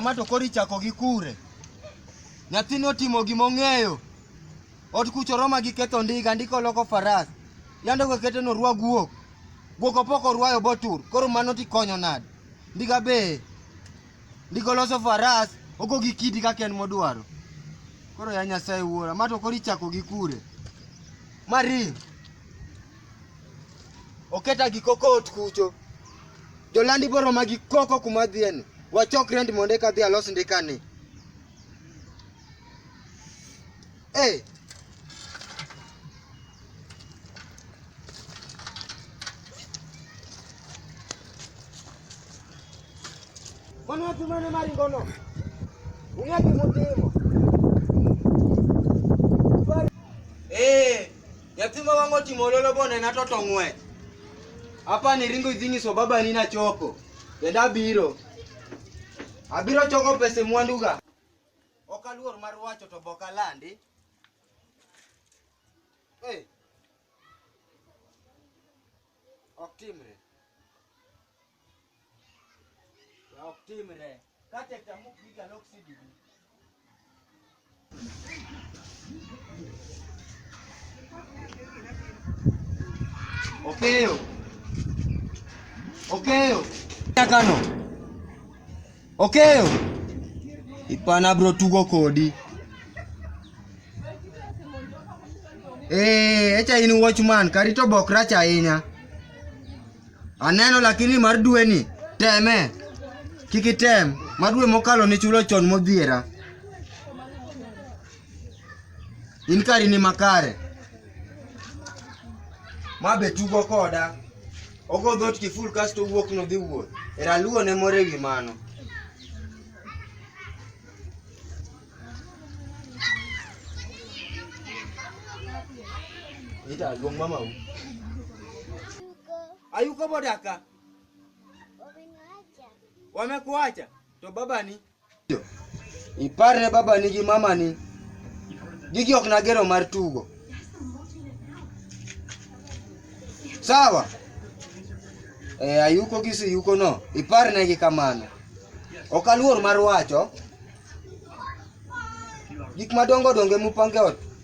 ma to koro ichako gi kure nyathini otimo gima ong'eyo ot kucho roma gi ketho ndiga ndiko loko faras yande go kete no rwa guok guok opoko rwayo botur koro mano tikonyo nade ndiga be Ndiko loso faras ogo gi kidi kaka en modwaro. Koro ya Nyasaye wuora, ma to koro ichako gi kure. Ma ring. Oketa gi koko ot kucho. Jolandi boro ma gi koko kuma dhieni. Wachok rent mondo eka dhi alos ndikani. Hey. Mwana watu mwana mali ngono. Unyaki mutimo. Eh, yatima wango timololo bona na toto ngwe. Hapa ni ringo idhingi so baba nina choko. Yenda biro. Abiro choko pese mwanduga. Ok aluor mar wacho to bok alandi. Hey. Ok timre. Ya ok timre. Kate tamu piga lok sidi. Okeyo. Okeyo. Kano. Okeyo. Ipana bro tugo kodi. Eh, echa in watchman, karito bok rach ahinya. Aneno lakini mar dwe ni teme. Kik item, mar dwe mokalo ni chulo chon modhiera. In kari ni makare. Ma be tugo koda. Ogo dhot kiful kasto owuok nodhi wuoth. Era luwo ne moro ewi mano. Ita luong mama u. Ayuko bodaka. Wamekuacha. To baba ni Iparne baba nigi mama ni. Gigi ok nagero mar tugo. Sawa? E, ayuko gi siyuko no. Iparne gi kamano. Ok aluor mar wacho. Gik madongo dongo mupange ot.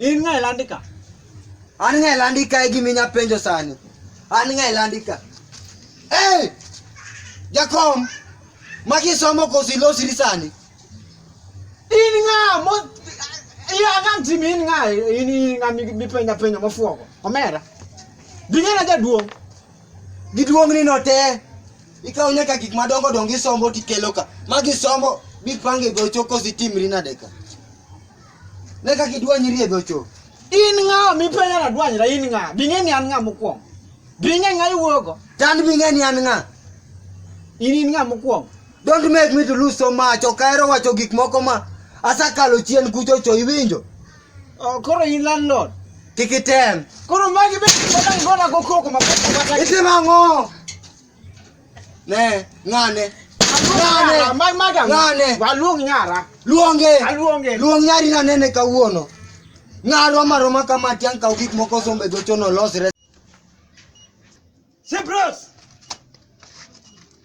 In ng'a ilandika? An ng'a ilandika e gima inya penjo sani. An ng'a ilandika? Hey! Jakom, maki somo koso ilosri sani? In ng'a mo ya kan timi in ng'a in in ng'a mi- mipenja penjo mofuogo. Omera. Dingena jaduong'. Giduong'ni no te. Ikawo nyaka gik madongo dongo isombo tikelo ka. Magi somo bipange gocho koso itimri nade ka. Ne kaka idwanyri e dhocho. In ng'a mipenyo na dwanyra in ng'a? Bing'e ni an ng'a mokwongo. Bing'e ng'a iwuogo? Tan bing'e ni an ng'a? In in ng'a mokwongo? Don't make me to lose so much. Ok ahero wacho gik moko ma asekalo chien kuchocho iwinjo? Oh, koro in landlord. Kik item. Koro magi be gona go koko ma pesa. Itimo ang'o? Ne, ng'ane. Ng'ane. Mag madam. Ng'ane. Waluong nyara. Luonge. Aluonge. Luong nyari na nene kawuono. Ng'arwa maroma kama tiang' kaw gik moko sombe gochono losre. Sipros.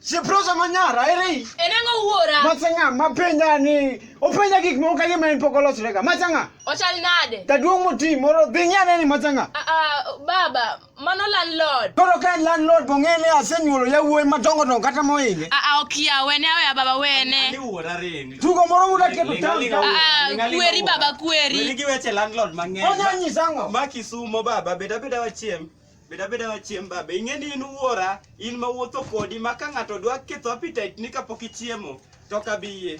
Sipros ama nyara eri. En ang'o wuora? Masanga mapenja ni openja gik moko kagima en pok olosrega. Masanga. Ochal nade? Jaduong' moti moro dhi ng'ane ni masanga. Ah, ah, baba, Mano landlord. Koro ka en landlord to ng'e ni asenyuolo yawuoyi madongo dongo kata mohinge. Ah, ah, ok ya wene aweya baba wene. Tugo moro muda keto town town. Ah, ah, kweri baba kweri. Gi weche landlord mang'eny. Onya nyisa ang'o? Ma Kisumo baba beda beda wachiem. Beda beda wachiem baba. Ing'e ni in wuora, in ma wuotho kodi ma ka ng'ato dwa ketho appetite ni kapok ichiemo to kabiyie.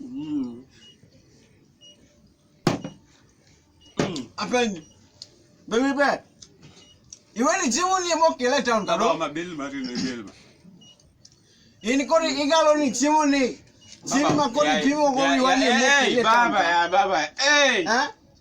Mm. Mm. Apendi. Baby be. Iwe ni jimu ni mo kele town kado. Baba mabil mari ni bil. Ini kori igalo ni jimu ni. Jimu ma kori jimu ko iwe ni mo kele town. Baba ya baba. Eh. Eh.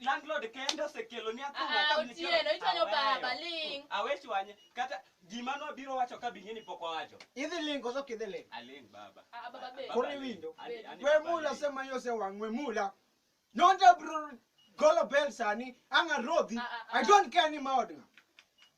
landlord kende osekelo ni athung'a Ah, ka mnichero. Otieno, ichwanyo Aweyo. baba, ling'. Awe chwanye. Kata gima nobiro wacho ka bing'e ni pok owacho. Idhi ling koso ok idhi ling? Aling' baba. Ah, baba be. Koro Baba, iwinjo. ani- ani We baba mula aling'. sema yo se wang we mula. Nonde bro golo bell sani anga rodhi. Ah, ah, ah. I don't care ni maodga.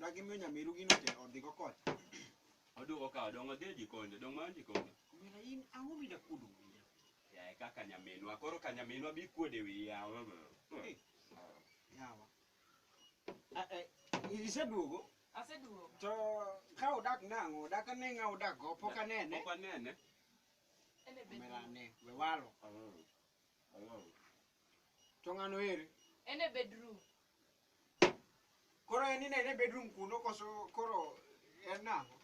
Dagi miyo nyamiru gino te odhi go kocha. Oduogo ka odong' odhi e jikonde, odong' mar jikonde. Omera in ang'o mida kudu wiya? Yaye kaka nyaminwa, koro ka nyaminwa bi kuode wiya. Eh, Yawa. Ah, eh, Iseduogo Aseduogo. to ka odak nang'o, odak ane ng'a odak go, pok anene. Pok anene. En e Omera bedroom. ane, we walo. To ng'ano eri? En e bedroom. Koro en ine e bedroom kuno koso koro en nang'o?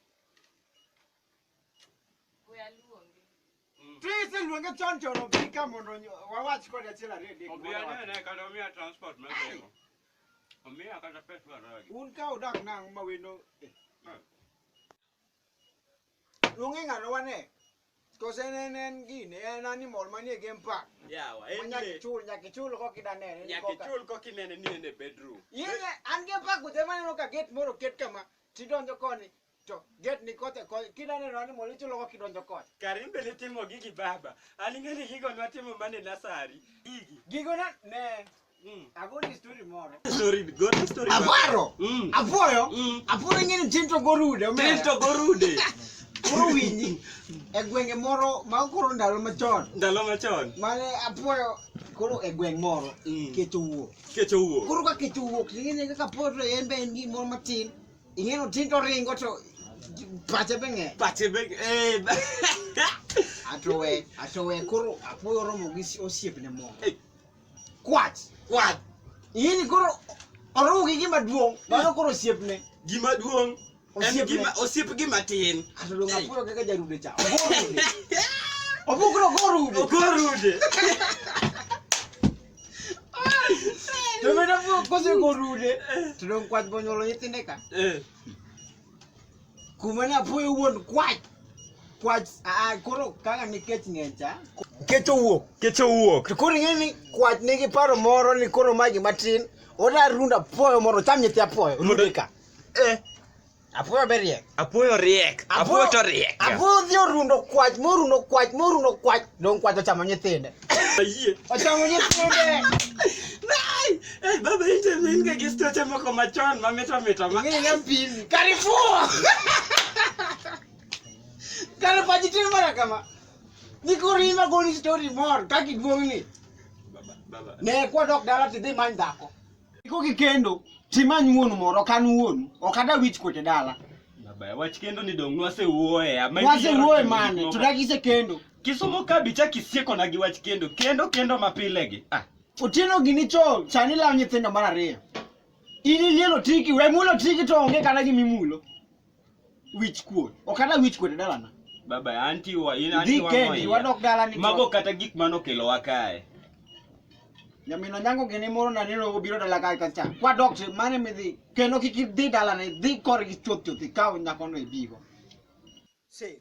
We aluonge. Mm. To iseluonge chon chon obi ka mondo wawach kode achiel ariyo adek. Obi anene kata omiya transport mar bengo. Omiya kata pes mar ragi. Un ka udak nang'o ma wendo. Eh. Luonge ng'ano wane. Kose ne ne en gini, en animal manie game park. Yawa, en Nyaka le. ichul, nyaka ichul kok idanene. Nyaka ichul kok inene ni en e bedroom. Yeye an game park kudhe maneno ka gate moro oket kama, tidonjo koni, to gate ni kote koni, kidaneno animal ichulo kok idonjo koni. Kare in be nitimo gigi baba. An ing'e ni gigo nwatimo mana e nasari. Gigi. Gigo na, ne, Mm. Agoni story moro. Story, good story. Avaro. Mm. Avoyo. Mm. Avoyo ngene tinto gorude. Tinto gorude. Koro winyi e gwenge moro ma koro ndalo machon. Ndalo machon. Mane apuoyo koro e gweng' moro mm. kech owuok. Kech owuok. Koro ka kech owuok ing'e kaka apuoyo to en be en gi moro matin. Ing'eno tin to ringo to pache be ng'e. Pache be eh. Atowe, atowe koro apuoyo romo gi osiepne moro. kwach kwach ini koro oruw gi gima duong' mano koro osiepne gima duong' en Osiepne. gima osiep gima tin ato donge apuoyo kaka jarude cha ogorude obukro ogorude ogorude to mena kosegorude to dong' kwach bonyuolo nyithinde ka Eh, Kumane apoyo wuon kwach. Kwach ah, ah koro kaka nikech ng'encha. Kecho wuok. Kecho wuok. To koro ing'e ni kwach nigi paro moro ni koro ma gima tin. Oda runda apoyo moro cham nyithi apoyo. Rudika. Eh. Apoyo be riek. Apoyo riek. Apoyo to riek. Apoyo odhi orundo kwach, morundo kwach, morundo kwach. Dong' kwach ochamo nyithinde. Ayie. Ochamo nyithinde. Nai! Eh, baba ite min ka gisto chama ko machon ma mito mito ma. Ng'e na pili. Karifu. Kalo pa jitin mara kama. Ni ko rima go ni story more ka ki duong ni. Baba, baba. Ne kwa dok dala ti dhi many dhako. Iko ki kendo. Ti many wuonu moro ok an wuonu. Ok ada wich kote dala. Baba, wach kendo ni dong nwase wuoye. ama Wase ibiro wuoye timo mane. gik moko. Tudagi se kendo. Kisumo ka bicha kisieko na gi wach kendo kendo kendo mapile gi. Ah. Otieno gini cho chani lawo nyithindo mar ariyo. In ilielo tiki, we mulo tiki to onge kata gima imulo. Wich kuot. Ok ata wich kuot e dalana. Baba anti wa in anti Dhi wa kendi, moya. wadok dala ni Mago cho. kata gik mano kelo wakae. Nyamino nyango gini moro na nino obiro dala kae kacha. Kwa dokte mane midhi. Kendo kik idhi dalana, idhi korgi chuoth chuoth ikaw nyakono ibigo. Same.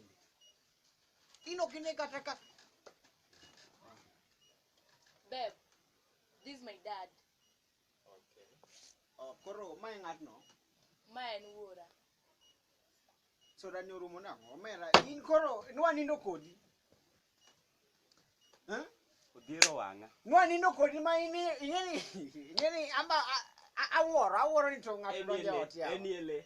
In ok ine kata ka Babe, this is my dad. Okay. Oh, koro mae ng'atno. Ma en wuora. Soda ni orumo nang'o? Omera, in koro nwa nindo kodi. Eh? Odhiero wang'a. Nwa nindo kodi ma in ing'eni ing'eni amba a- a- awuoro awuoro ni to ng'ato donjo e ot yawa. Eni ele.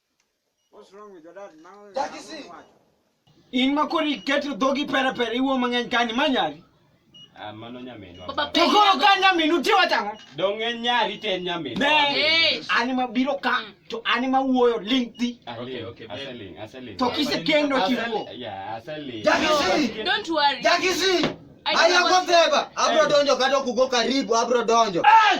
In ma kori keto dhogi pere pere iwuo mang'eny kani ma nyari. Ah, mano nyaminwa. To koro ka nyaminu tiwa tang'o. Dong' en nyari to en nyaminwa. Ne, ani ma biro ka to ani ma wuoyo ling thi. Ah, okay, okay. Aseling, aseling. To kise kendo chiwo. Yeah, aseling. Jakisi. Don't worry. Jakisi. Aya koseba. Abro donjo kata okugo karibu abro donjo. Hey!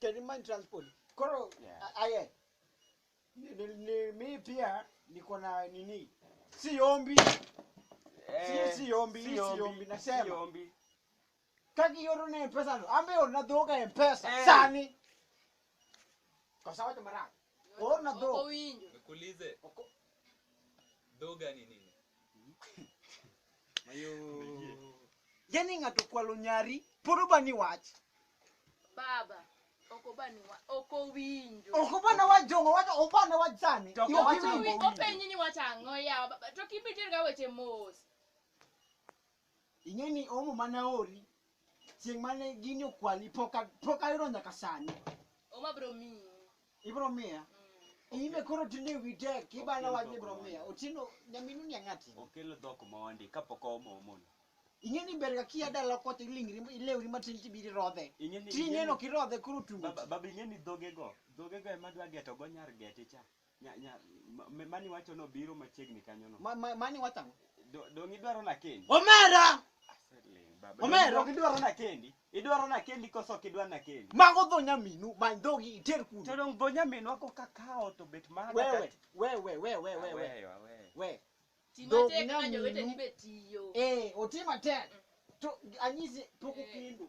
Terimani transport. Koro Yeah. a- aye. Ni, ni, ni, mi pia niko na nini? Si ombi. Eh, si ombi, si si ombi, ombi, nasema. si ombi. Kaki yoro na mpesa no. Ambe ona doga mpesa. Eh. Sani. Kwa sawa jamara. Ona Oko dho. winjo. Nikuulize, Oko- dhoga ni nini? Yaani ng'ato kwalo nyari, pod obani wach. Baba. Oko bani wa. Oko winjo. Ok obana wach jongo, wach obana wach sani. To ok Yo, owach kiwi- Oko winjo. Openyi ni wacho ang'o yawa baba. To kibitier ga weche mos. Ing'e ni omo mane aori chieng' mane gini okwali pok a- pok ayudo nyaka sani. Oma bro mi. Ibiro miya. Ime koro tinde wi tek ibana wach ni ibiro miya. Otieno nyaminu ni ang'ati. Okel dhok mondi kapok oomo omono. Ing'e ni ber ga kia dala kocha ilingri ilewri matin tibiro irodhe. Ing'e ni- Ti ing'e ing'e ni- ok irodhe koro otugo. Baba baba ing'e ni dhogego, dhogego ema dwa geto go nyar geti cha. Nya- nya- ma- ma- mani wacho nobiro machiegni kanyo no Ma- ma- Mani wacho ang'o? Do- dong' idwaro nakendi Omera! Aseling' baba. Omera! Dong' idwaro nakendi idwaro nakendi koso ok idwa nakendi Mago dho nyaminu, many dhogi iter to kuno. dong' dho nyaminwa koka kawo to bet mana Wewe, wewe, wewe, wewe, wewe. Aweyo, aweyo. We. Ti Dog matek ma nyaminu. joweteni be tiyo. Eh, oti matek. To anyisi pok Eh. okendo.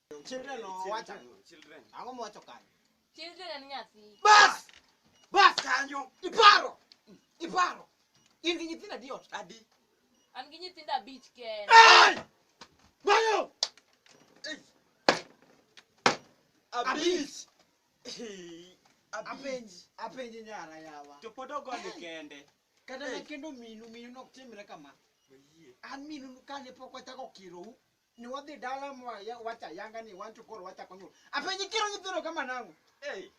Children owacho ang'o? Children. Ang'o mowacho kanyo? Children en nyathi. Bas! Bas kanyo. Iparo. Iparo. In gi nyithindo adi ot? Adi. An gi nyithindo abich kende. Hey! Bayo! Abich. Apenji, apenji nyara yawa. To pod ogoni kende. Kata na kendo minu, minu nok timre kama. An minu kane pok wachako kirou. ni wadhi dala mwa ya- wacha yanga ni wanto koro wacha konyul apenyi kiro nyithindo kama nango Hey,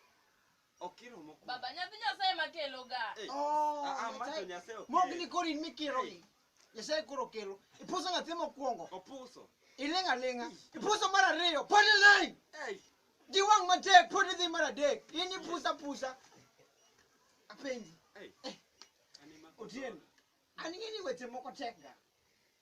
okiro mokuongo. Baba, nyathi Nyasaye ma kelo ga. Hey, oh ah, ah, macho Nyasaye ok mogni kelo. koro in mikiro Hey. gi nyasaye koro kelo ipuso nyathi mokwongo Opuso. iling' aling'a ipuso mar ariyo pod iling' Hey, gi wang' matek pod idhi mar adek in ipusa pusa apenji hey. Ani ma- otieno an ing'e ni weche moko tekga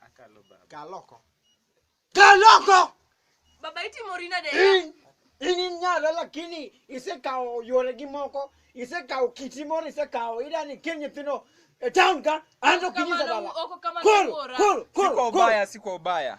Akalo baba. Kaloko. Kaloko! Baba itimo rina de. In, in inyalo lakini isekawo yore gi moko, isekawo kiti moro isekawo idani kel nyithindo e town ka anto kinyisa dala. Koro, koro, koro, koro. Siko ubaya, siko ubaya.